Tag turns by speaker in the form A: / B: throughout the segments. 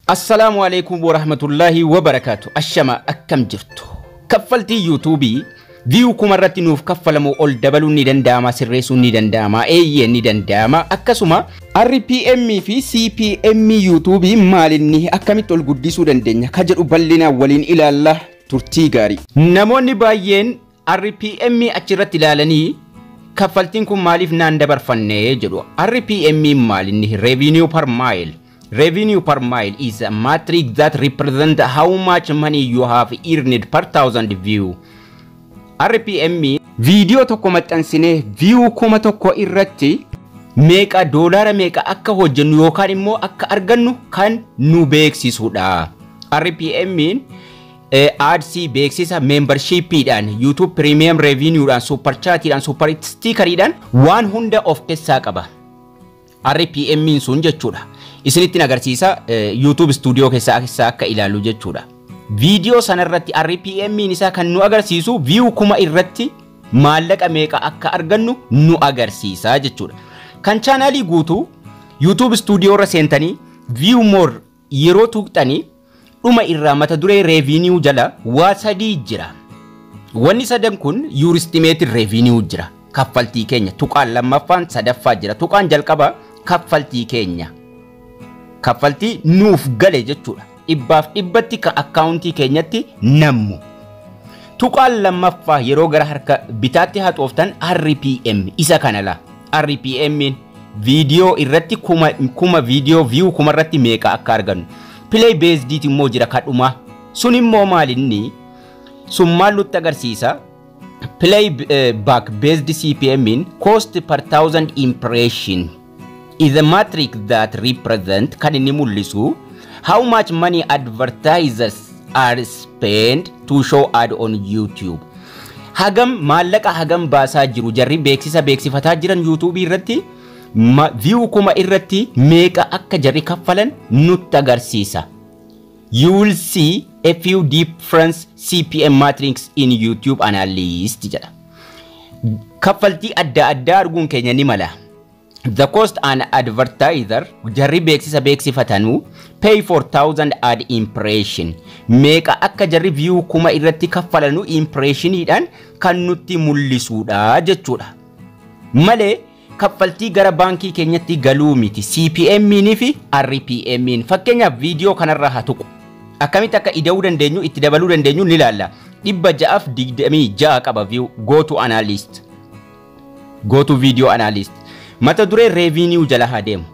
A: Assalaamu Aleeykum Warahmatullaahi Wabarakaatu Ashama akkam jirtu kaffaltii yuutuubii viyuu kuma irratti nuuf kaffalamu ol dabaluun ni danda'ama sirreessuun ni danda'ama eeyyee ni danda'ama akkasuma RPM fi CPM yuutuubii maalinni akkamitti ol guddisuu dandeenya ka jedhu bal'inaan waliin ilaalla turtii gaarii. Namoonni baay'een RPM achi irratti ilaalanii kaffaltiin kun maaliif naan dabarfanne jedhu. RPM maal inni revenue per mile. Revenue per mile is a matrix that represent how much money you have earned per thousand view. RPM viidiyoo tokko maxxansinee view kuma tokko irratti meeqa doolaara meeqa akka hojjennu yookaan immoo akka argannu kan nu beeksisudha. RPM'n Ads, beeksisa, membership dhaan, YouTube premium revenue dhaan, super chat dhaan, super sticker dhaan waan hunda of keessaa qaba. RPM in sun jechuudha. Isinittiin agarsiisa eh, YouTube studio keessaa keessaa akka ilaalu jechuudha. Viidiyoo sanarratti RPM in isaa kan nu agarsiisu view kuma irratti maallaqa meeqa akka argannu nu agarsiisa jechuudha. Kan chaanaalii guutuu YouTube studio irra seentanii view more Yeroo tuuqxani dhuma irraa mata duree Revenue jala waa sadii jira. Wanni sadan kun Your Estimated Revenue jira. Kaffaltii keenya. Tuqaan lammaffaan sadaffaa jira. Tuqaan jalqaba kaffaltii keenya. Kaffaltii nuuf gale jechuudha. Dhibbaaf dhibbatti ka akkaawuntii keenyatti nammu. Tuqaan lammaffaa yeroo gara harka bitaatti haxooftan RPM isa kana laa. RPMn viidiyoo irratti kuma kuma viidiyoo view kuma irratti meeqa akka argannu play based ti immoo jira kadhuma sun immoo maalinni sun maal nutti agarsiisa play eh, back based CPM in cost per thousand impression is a matrix that represent kan inni mul'isu how much money advertisers are spent to show ad on YouTube Hagam maallaqa hagam baasaa jiru jarri beeksisa beeksifataa jiran yuutuubii irratti ma view kuma irratti meeqa akka jarri kaffalan nutti agarsiisa. You will see a few difference CPM matrix in YouTube analyst jedha. Kaffaltii adda addaa arguun keenya ni mala. The cost an advertiser jarri beeksisa beeksifatanu pay for thousand ad impression meeqa akka jarri view kuma irratti kaffalanu impressioniidhaan kan nutti mul'isuudha jechuudha. Malee kaffaltii gara baankii keenyatti galuu miti CPM'n fi RPM'n fakkeenyaaf viidiyoo kanarra haa tuqu. Akkamitti akka ida'uu dandeenyu itti dabaluu dandeenyu ni ilaalla. 626 qaba view go to analyst. Go to video analyst. Mata duree revenue jala haa deemu.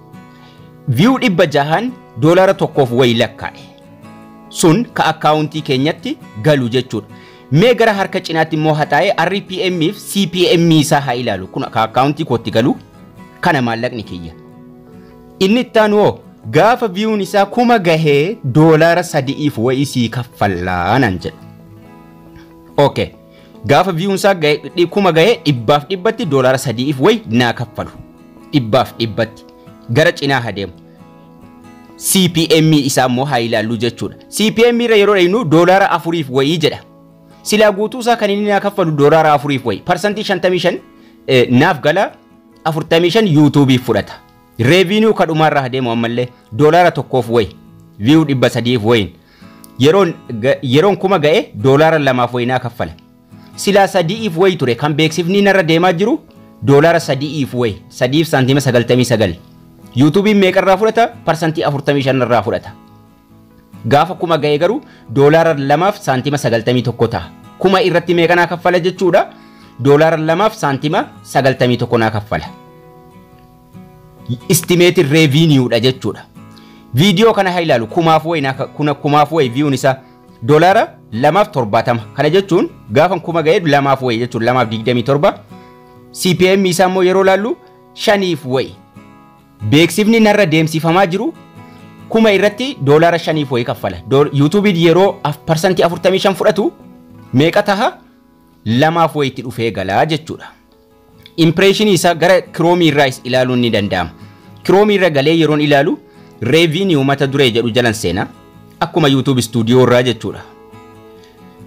A: View dhibba jahan doolara tokkoof wayi lakkaa'e. Sun ka akkaawuntii keenyatti galu jechuudha. Mee gara harka cinaatti immoo hataa'ee RPM fi CPM isaa haa ilaalu. Kun ka akkaawuntii kootti galu kana maallaqni kiyya. Inni itti aanu hoo gaafa viyuun isaa kuma gahee doolara sadi'iif wayii sii kaffallaa naan jedha. Okay. Gaafa viyuun isaa gahe- dhi- kuma gahe dhibbaaf dhibbatti doolaara sadiif wayi naa kaffalu. Dhibbaaf dhibbatti. Gara cinaa haa deemu. CPM isaa immoo haa ilaallu jechuudha. CPM irra yeroo dhaynu doolaara afuriif wayii jedha. Silaa guutuu isaa kan inni naa kaffalu doolaara afuriif wayi. Parsantii 55 eh, naaf gala 45 yuutuubiif fudhata. Reeviiniyuu kadhumaarra haa deemu ammallee doolaara tokkoof wayi. Viyuu dhibba sadiif wayiin. Yeroon, ga, yeroon kuma ga'e doolaara lamaaf wayinaa kaffala. Silaa sadi'iif wayi ture kan beeksifni narra deemaa jiru doolaara sadi'iif wayi sadiif saantima sagaltamii sagal. Yuutuubiin meeqarraa fudhata? Parsantii afurtamii shan irraa fudhata. Gaafa kuma ga'e garuu doolaara lamaaf saantima sagaltamii tokko ta'a. Kuma irratti meeqa naa kaffala jechuudha? Doolaara lamaaf saantima sagaltamii tokko naa kaffala. estimated revenue dha jechuudha. Viidiyoo kana haa ilaalu kumaaf wayi naa- kuna- kumaaf wayi viyuun isaa doolaara lamaaf torbaatama. Kana jechuun gaafan kuma ga'ee lamaaf wayi jechuudha lamaaf digdamii torba. CPM isaa immoo yeroo ilaallu shaniif wayi. Beeksifni narra deemsifamaa jiru kuma irratti doolaara shaniif wayi kaffala. Dool- Yuutuubiin yeroo af- parsantii afurtamii shan fudhatu meeqa taha lamaaf wayitti dhufee galaa jechuudha. impireeshinii isaa gara kiroomii irraas ilaaluun ni danda'ama. Kiroomii irra galee yeroon ilaalu reeviiniyuu mata duree jedhu jalan seena. Akkuma YouTube stuudiyoo irraa jechuudha.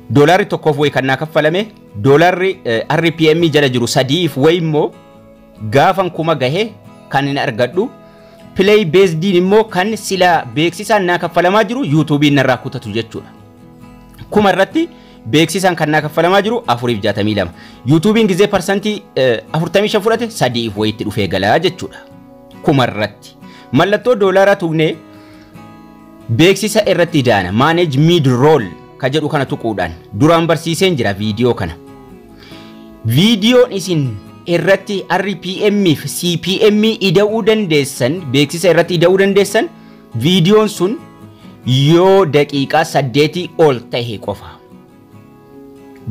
A: Doolaarri tokkoof wayi kan naa kaffalame doolaarri eh, RPM jala jiru sadiif wayi immoo gaafan kuma gahe kan hin argadhu. Play beesdiin immoo kan sila beeksisaan naa kaffalamaa jiru YouTube'n narraa kutatu jechuudha. kuma irratti beeksisaan kan naa kaffalamaa jiru 462. Yuutuubiin gizee parsantii 45 fudhate 3f wayitti dhufee galaa jechuudha. Kuma irratti. Mallattoo doolaaraa tuqnee beeksisa irratti idaana manage mid roll ka jedhu kana tuquudhaan duraan barsiiseen jira viidiyoo kana. Viidiyoon isin irratti RPM fi CPM ida'uu dandeessan beeksisa irratti ida'uu dandeessan Viidiyoon sun yoo daqiiqaa saddeetii ol tahe qofa.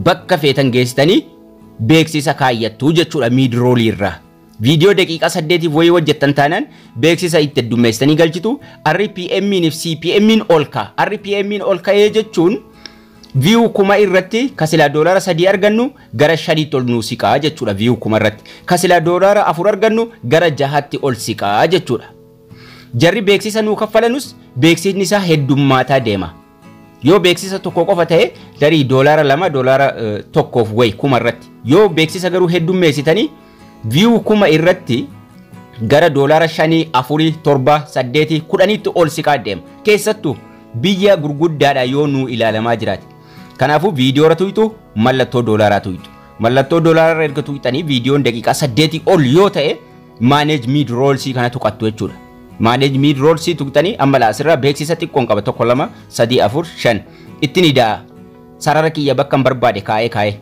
A: Bakka feetan geessitanii beeksisa kaayyattu jechuudha miidroolii irraa. Viidiyoo daqiiqaa saddeetiif wayii hojjettan taanaan beeksisa itti heddummeessitanii galchitu RPMiin fi CPMiin ol ka'a. RPMiin ol ka'ee jechuun viyuu kuma irratti kasilaa doolaara sadii argannu gara shaniitti ol nuu siqaa jechuudha viyuu kuma irratti. Kasilaa doolaara afur argannu gara jahaatti ol siqaa jechuudha. Jarri beeksisa nuu kaffalanus beeksisni isaa heddummaataa deema. Yoo beeksisa tokko qofa ta'e tarii doolaara lama doolaara eh, tokkoof wayi kuma irratti. Yoo beeksisa garuu heddummeessitanii viyuu kuma irratti gara doolaara shanii, afurii, torba, saddeetii, kudhaniitti ol siqaa deema. Keessattuu biyya gurguddaadha yoo nuu ilaalamaa jiraate. Kanaafuu viidiyoora tuyxu mallattoo doolaaraa tuyxu. Mallattoo doolaararra erga tuyxanii viidiyoon daqiiqaa saddeetii ol yoo ta'e manage mid rolls kana tuqattu jechuudha. Manage mid rolls tuqxanii amma laa asirraa beeksisa xiqqoon qaba tokko lama sadii afur shan itti ni da'a. Sarara kiyya bakka hin barbaade kaa'ee kaa'ee.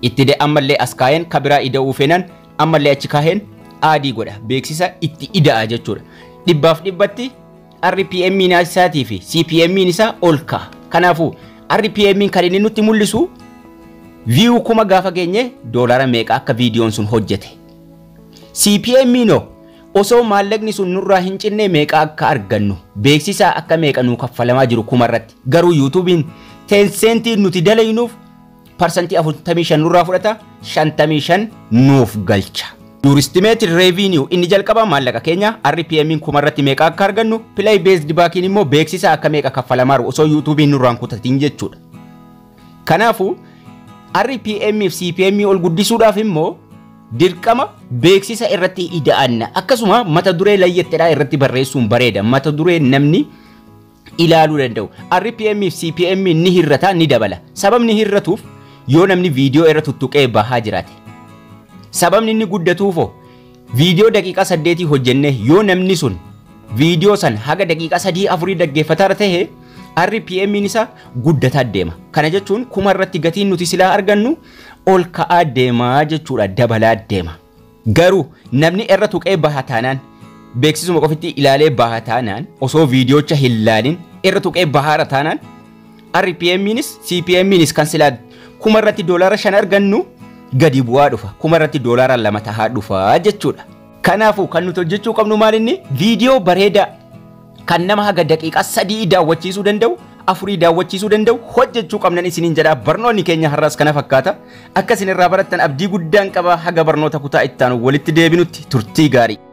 A: Itti de ammallee as kaa'een kabiraa ida'uu feenan ammallee achi kaa'een aadii godha beeksisa itti ida'a jechuudha. Dhibbaaf dhibbatti RPM isaatii fi CPM isaa ol ka'a. Kanaafuu RPM kan inni nutti mul'isu view kuma gaafa geenye doolara meeqa akka viidiyoon sun hojjete CPMiin hoo osoo maallaqni sun nurraa hin cinne meeqa akka argannu beeksisaa akka meeqa nuu kaffalamaa jiru kuma irratti garuu yuutuubiin teenseentiin nuti dalaynuuf parsantii 45 nurraa fudhata 55 nuuf galcha. Yuuristimeetiin reeviiniyuu inni jalqabaa maallaqa keenya RPMiin kuma irratti meeqa akka argannu pilay beesdi baakiin immoo beeksisaa akka meeqa kaffalamaaru osoo yuutuubiin nurraan kutatiin jechuudha. Kanaafuu RPM fi CPM ol guddisuudhaaf immoo dirqama beeksisa irratti ida'anna. Akkasuma mata duree layyettedhaa irratti barreessuun bareeda. Mata duree namni ilaaluu danda'u. RPM fi CPM ni hir'ata ni dabala. Sababni hir'atuuf yoo namni viidiyoo irra tuttuqee bahaa jiraate. Sababni inni guddatuufoo Viidiyoo daqiiqaa saddeetii hojjennee yoo namni sun viidiyoo san haga daqiiqaa sadii afurii dhaggeeffataara ta'e RPM'n isaa guddataa deema. Kana jechuun kuma irratti gatiin nuti silaa argannu ol ka'aa deemaa jechuudha dabalaa deema. Garuu namni irra tuqee baha taanaan beeksisuma qofitti ilaalee baha taanaan osoo viidiyocha hin laalin irra tuqee bahaara taanaan RPMnis CPMnis kan silaa kuma irratti doolaara shan argannu gadi bu'aa dhufa. Kuma irratti doolaara lama tahaa dhufa jechuudha. Kanaafuu kan nuti hojjechuu qabnu maal inni viidiyoo bareedaa kan nama haga daqiiqaa sadii daawwachiisuu danda'u afurii daawwachiisuu danda'u hojjechuu qabnan isiniin jedha barnoonni keenya har'aas kana fakkaata akka isin irraa barattan abdii guddaan qaba haga barnoota kutaa itti aanu walitti deebinutti turtii gaarii.